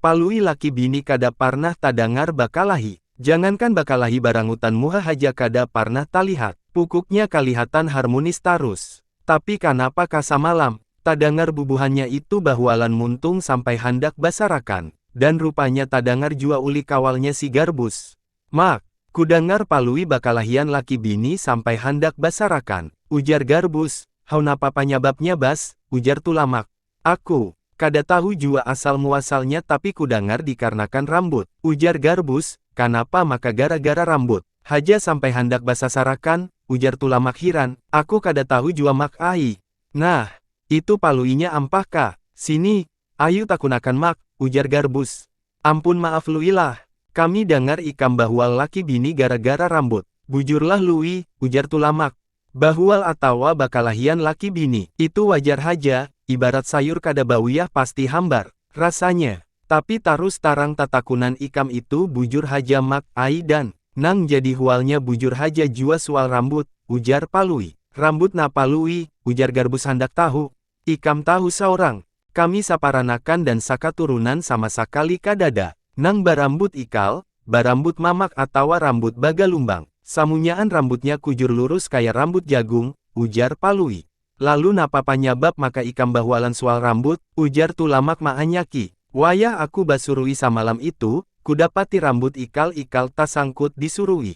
Palui laki bini kada parnah tadangar bakalahi. Jangankan bakalahi barangutan muha haja kada parnah talihat. Pukuknya kalihatan harmunis tarus. Tapi kanapa ka samalam, tadangar bubuhannya itu bahualan muntung sampai handak basarakan. Dan rupanya tadangar jua ulih kawalnya si Garbus. Mak, kudangar Palui bakalahian laki bini sampai handak basarakan. Ujar Garbus, Haunapa panyababnya Bas? ujar Tulamak. Aku, kada tahu jua asal muasalnya tapi kudangar dikarnakan rambut, ujar Garbus, kanapa maka gara-gara rambut haja sampai handak basasarakan, ujar Tulamak hiran, aku kada tahu jua Mak ai. Nah, itu paluinya ampah ka, sini, ayu takunakan Mak, ujar Garbus. Ampun maaf Lui lah, kami dangar ikam bahwa laki bini gara-gara rambut. Bujurlah Lui, ujar Tulamak, Bahual atawa bakalahian laki bini, itu wajar haja, ibarat sayur kada bawiyah pasti hambar, rasanya. Tapi tarus tarang tatakunan ikam itu bujur haja Mak ai dan, nang jadi hualnya bujur haja jua sual rambut, ujar Palui. Rambut napa Lui? ujar Garbus handak tahu, Ikam tahu saurang, kami saparanakan dan sakaturunan sama sakali kadada nang barambut ikal, barambut mamak atawa rambut bagalumbang. Samunyaan rambutnya kujur lurus kaya rambut jagung, ujar Palui. Lalu napa panyabab maka ikam bahualan sual rambut? ujar Tulamak maanyaki. Wayah aku basurui samalam itu, kudapati rambut ikal-ikal tasangkut di surui.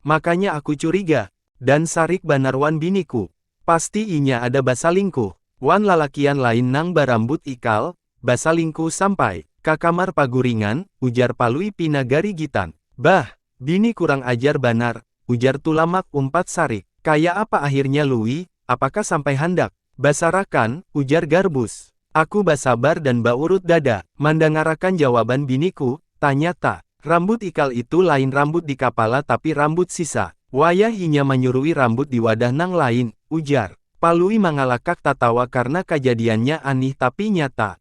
Makanya aku curiga, dan sarik banar wan biniku. Pasti inya ada basalingkuh, wan lalakian lain nang barambut ikal, basalingkuh sampai, ka kamar paguringan, ujar Palui pina garigitan. Bah! Bini kurang ajar banar, ujar Tulamak umpat sarik. Kaya apa ahirnya Lui, apakah sampai handak. Basarakan, ujar Garbus. Aku basabar dan baurut dada, mandangarakan jawaban biniku, tanyata, rambut ikal itu lain rambut di kapala tapi rambut sisa. Wayah inya manyurui rambut di wadah nang lain, ujar Palui mangalakak tatawa karna kajadiannya anih tapi nyata.